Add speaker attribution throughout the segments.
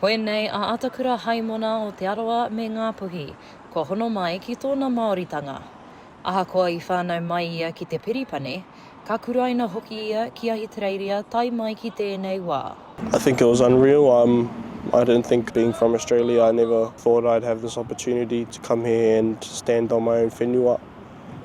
Speaker 1: Koinei a Atakura Haimona o Te Arawa me Ngāpuhi, kua hono mai ki tōna Māoritanga. Ahakoa i whānau mai ia ki te Peripane, ka kuraina hoki ia ki Ahitereiria tae mai ki tēnei wā. I think it was unreal,
Speaker 2: um, I didn't think being from Australia, I never thought I'd have this opportunity to come here and stand on my own whenua,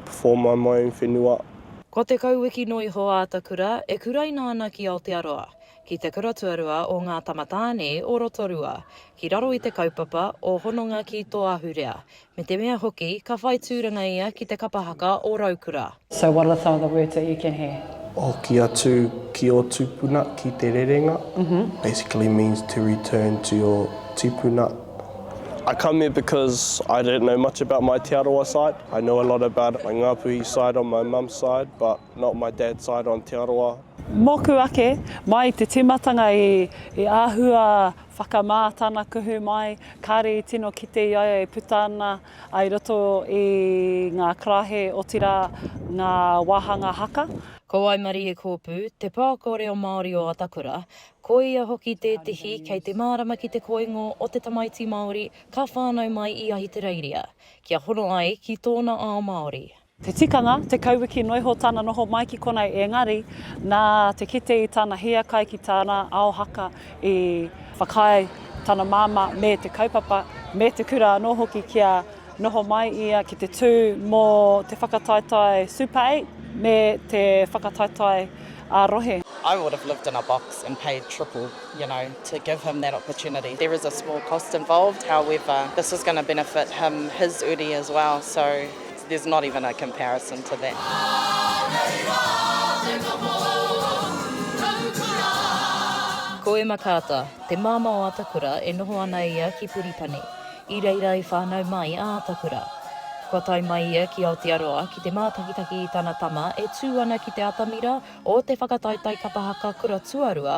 Speaker 2: perform on my own whenua. Kua tekau wiki
Speaker 1: noa iho a Atakura e kuraina ana ki Aotearoa, ki te kura tuarua o Ngā Tamatāne o Rotorua, ki raro i te kaupapa o Hononga ki tō Ahurea, me te mea hoki ka whai tūranga ia ki te kapa haka o Raukura. So what are some of the
Speaker 3: words that you can hear? Hoki atu
Speaker 2: ki ō tūpuna ki te rerenga, basically means to return to your tipuna. I come here because I don't know much about my Te Arawa side, I know a lot about my Ngāpuhi side on my mum's side but Not my dad's side on Te Arawa. Moku ake,
Speaker 3: mai i te timatanga i ahua whakama tana kuhu mai, kare i tino kite i a ia e puta ana ai roto i nga karahe otira nga wahanga haka. Ko Waimarie
Speaker 1: Koopu, te pākō reo Māori o Atakura, ko ia hoki tētehi kei te mārama ki te koingo o te tamaiti Māori ka whānau mai i Ahitereiria kia hono ai ki tōna ao Māori. Te tikanga,
Speaker 3: tekau wiki noa iho tana noho mai ki konei engari, nā te kite i tana hiakai ki tana ao haka i whakaae tana māmā me te kaupapa, me te kura anō hoki kia noho mai ia ki te tū mō te whakataetae Super Eight me te whakataetae ā-rohe. I would have lived
Speaker 4: in a box and paid triple you know, to give him that opportunity. There is a small cost involved, however, this is going to benefit him, his uri as well, so there's not even a comparison to that.
Speaker 1: Ko Emma Carter, te māmā o Atakura e noho ana ia ki Puripani, i reira i whānau mai a Atakura. Kua tae mai ia ki Aotearoa ki te mātakitaki i tana tama e tū ana ki te atamira o te whakataetae kapa haka kura tuarua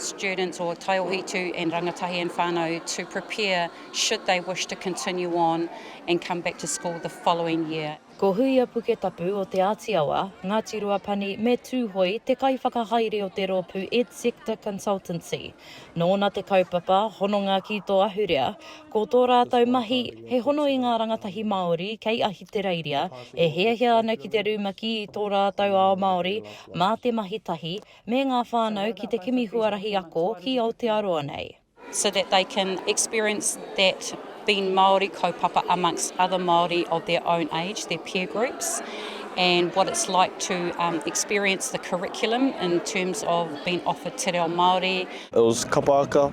Speaker 5: students or taiohitu and rangatahi and whanau to prepare should they wish to continue on and come back to school the following year. Ko Huia Puketapu
Speaker 1: o Te Āti Awa, Ngāti Ruapani me Tūhoe te kaiwhakahaere o te rōpū EdSector Consultancy. Nōna te kaupapa Hononga ki tō Ahurea, ko tō rātou mahi he hono i ngā rangatahi Māori kei Ahitereiria e hiahia ana ki te rumaki i tō rātou ao Māori mā te mahi tahi me ngā whānau ki te kimi huarahi ako ki Aotearoa nei. so that they can
Speaker 5: experience that being Māori kaupapa amongst other Māori of their own age, their peer groups, and what it's like to um, experience the curriculum in terms of being offered te reo Māori, It was kapa
Speaker 2: aka.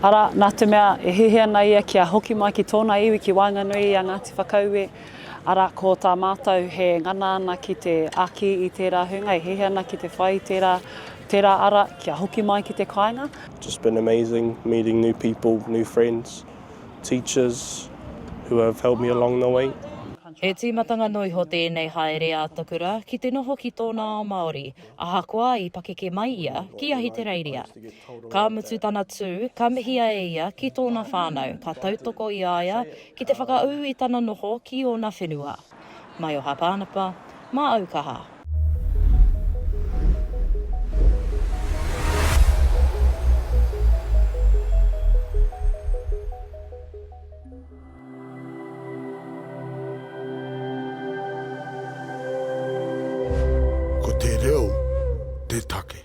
Speaker 3: Arā, nā te mea e hihi ana ia kia hoki mai ki tōna iwi ki waenganui i a Ngāti Whakaue, arā, ko tā mātou he ngana ana ki te āki i tērā hunga e hihi ana ki te whai i tērā, tērā ara kia hoki mai ki te kāinga. Just been amazing
Speaker 2: meeting new people, new friends, teachers who have helped me along the way. He tīmatanga
Speaker 1: noiho tēnei haere a Takura ki te noho ki tōna ao Māori. Ahakoa i pakeke mai ia ki Ahitereiria, ka mutu tana tū, ka mihia e ia ki tōna whānau, ka tautoko i a ia ki te whakaū i tana noho ki ōna whenua. Maioha Pānapa, mā au kaha. Ko te reo te take.